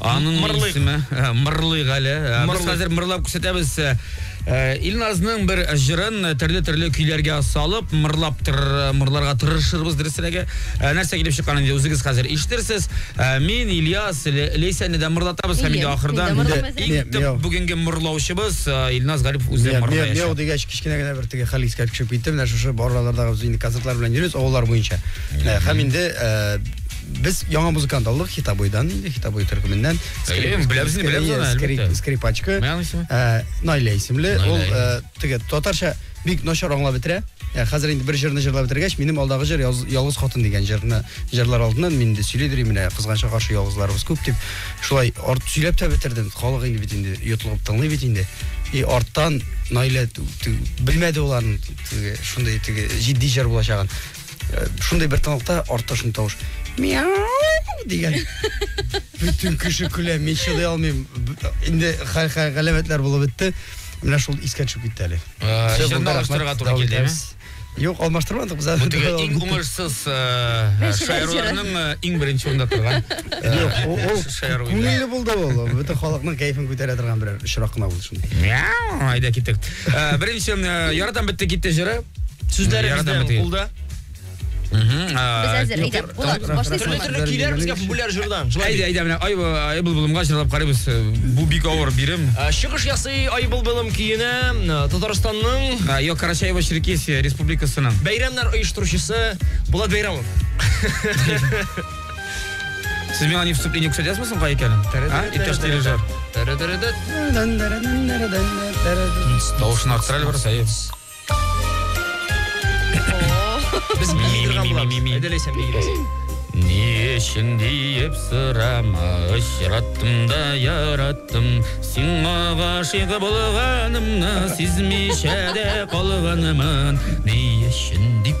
Аның Мырлыйк. исеме э, Мырлыйк әле. Э, Без Мырлыйк. хәзер мырлап күрсәтәбез. Э, э, Илназның бер җырын э, төрле-төрле көйләргә салып, мырлап тыр, мырларга тырышырбыз дөресрәге. Э, Нәрсә килеп чыккан инде үзегез хәзер ишетерсез. Э, Мин Ильяс Ле- Лейсәне дә мырлатабыз һәм Әйе, инде мин ахырдан дә мырламас инде идем. иң төп Мияу. бүгенге мырлаучыбыз э, Илназ Гарипов үзе Мияу- мияу- Мияу мырлаячак. дигәч кечкенә генә бер теге хәл искә төшеп китте. Менә шушы аралардагы без инде концертлар белән йөрибез авыллар буенча. Менә, Һәм инде э, Без яңа музыкант алдык Хитабойдан инде, Хитабой төркеменнән. Әйе, беләбез, беләбез аны, әлбәттә. Скрипачка. Мәгән исеме? Э, Найля исемле. Ул э, теге татарча бик начар аңлап бетерә. Ә хәзер инде бер җырны җырлап бетергәч, минем алдагы җыр Ялгыз хатын дигән җырны җырлар алдыннан мин инде сөйли дирим менә кызганча каршы ялгызларыбыз күп дип. Шулай арт сөйләп тә бетердем. Халык инде бит инде йотлыгып тыңлый бит инде. И арттан Найля белмәде ул аның шундый теге җитди җыр булачагын. Шундый бер тынлыкта артта шундый тавыш. Мяу дигән. Бөтен кеше көлә, мин чыдый алмыйм. Инде галәмәтләр булып бетте. Менә шул искә төшеп китте әле. Җырны э, алыштырырга туры килдеме? Юк, алмаштырмадык без әле. Бу иң уңышсыз э, шаяруларның э, иң беренче урында торган. Юк, ул күңелле булды ул. Бөтен халыкның кәефен күтәрә торган берәр очрак кына булды шундый. Айда китик. Беренче ярадан бетте китте җыры. Сүзләре бездә кулда. Без әзер, әйдә, Булат, башлыйсыңмы? Төрле көйләребезгә популяр җырдан. Әйдә, әйдә, менә ай ай булбылымга җырлап карыйбыз. Бу бик авыр бирем. Чыгыш ясый ай булбылым көенә Татарстанның Йо Карачаево Черкесия республикасының бәйрәмнәр оештыручысы Булат Бәйрәмов. Сез миңа не вступление күрсәтә ясмы соң кай икәнен? А? Иптәш дирижер. Тавышын арттыра әле барса, әйе. Без миграм булабыз. Әйдә ләйсән миграм. Ни өчен диеп сорама, очраттым да яраттым. Сиңа гашыйк булганымны сизмичә дә калганмын. Ни өчен дип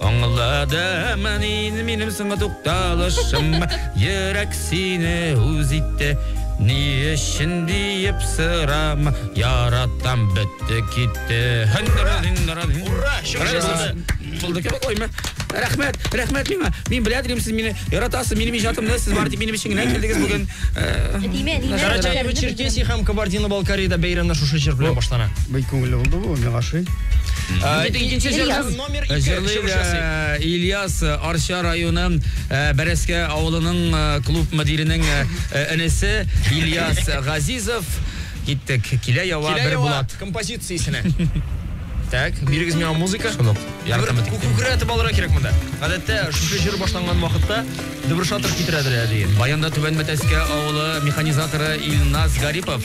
Аңладым мин минем соңгы тукталышым Йөрәк сине үз итте Ни өчен диеп сырам Яратам бетте китте Ура! Булды кебек ойма. Рәхмәт, рәхмәт миңа. Мин белә идем сез мине яратасыз, минем иҗатымны сез бар дип минем өчен генә килдегез бүген. Димә, димә. Карачаево Черкесия һәм Кабардино-Балкариядә бәйрәмнәр шушы җыр белән башлана. Бик күңелле булды бу, миңа ошый. Икенче җыр. Җырлыйлар Ильяс Арча районы Бәрәскә авылының клуб мөдиренең энесе Ильяс Газизов. Киттек. Килә ява бер булат. Композициясенә. Так, бирегез миңа музыка. Шунык. Ярдәм итеп. Күкрә атып алырга кирәк монда. Гадәттә, шушы җыр башланган вакытта дебрушатор китерәдер әле. Баянда Түбән Мәтәскә авылы механизаторы Илназ Гарипов.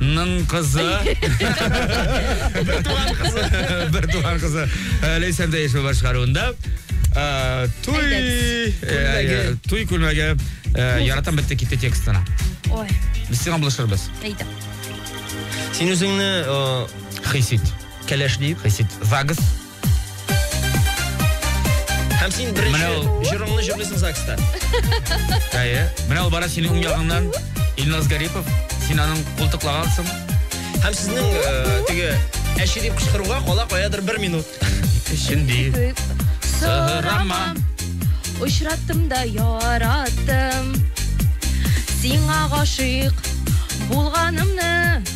Ның кызы. Бертуган кызы. Бертуган кызы. Э, Ләйсән Дәешева башкаруында. Э, Туй... Әйдәгез. э, э, Туй күлмәге. э, Яратам бетте китте текстына. Ой, Без сиңа булышырбыз. әйдә. Син үзеңне э, Хисит. кәләш дип. Хисит. Загс. Һәм син беренче җырыңны җырлыйсың ЗАГСта. Әйе. Менә ул бара синең уң ягыңнан Илназ Гарипов. Син аның култыклагансың. Һәм сезнең э, теге әче дип кычкыруга кала каядыр бер минут. Шундый. Сорама. Очраттым да яраттым. Сиңа гашыйк булганымны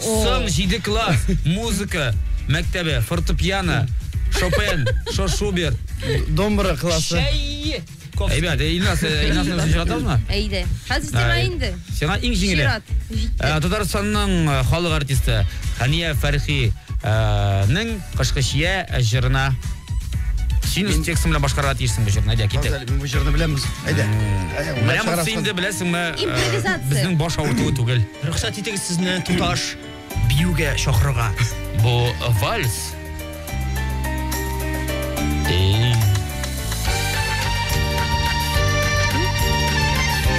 Соң җиде класс, музыка мәктәбе, фортепиано, Шопен, Шо Шуберт. Домбра классы. Чәй! Кофе. Әйбәт, э, Илназ, э, Илназны үзен чыгартамызмы? Әйдә. Хәзер сиңа Ай. инде. Сиңа иң җиңеле. Чират. Җитте. Ә, Татарстанның э, халык артисты Хәния Фәрхи э, нең Кышкы чия җырына Син үз текстың белән башкарырга тиешсең бу җырны. Әйдә, китә. Мин бу җырны беләмбез. Әйдә. Менә монысы инде беләсеңме? Э, Импровизация. Безнең баш авыртуы түгел. Рөхсәт итегез сезне туташ биюгә чакырырга. Бу э, вальс.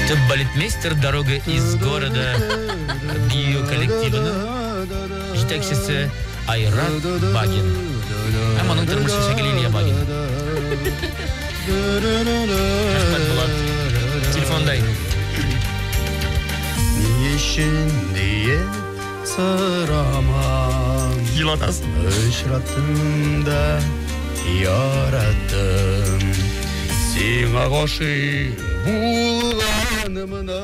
Ты балетмейстер дорога из города бию коллективының Җитәкчесе Айрат Багин. Һәм аның тормыш шәкеле Илья Багин. Рәхмәт, Булат. Телефонда инде. Ни өчен диеп сорамам. Елатасың. Очраттым да яраттым. Сиңа гашыйк булганымны.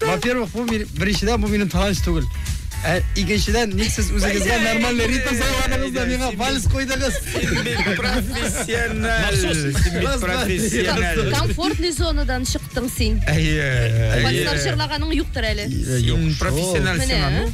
Во-первых, бу мин- беренчедән бу минем талант түгел. Ә икенчедән, ник сез үзегезгә нормальный ритм сайладыгыз да миңа вальс куйдыгыз? Профессиональ. Раз, два, три, Профессиональ. Комфортный зонадан чыктың син. Әйе. Вальслар җырлаганың юктыр әле. Юк, Профессиональ Менә. сцена. Ну,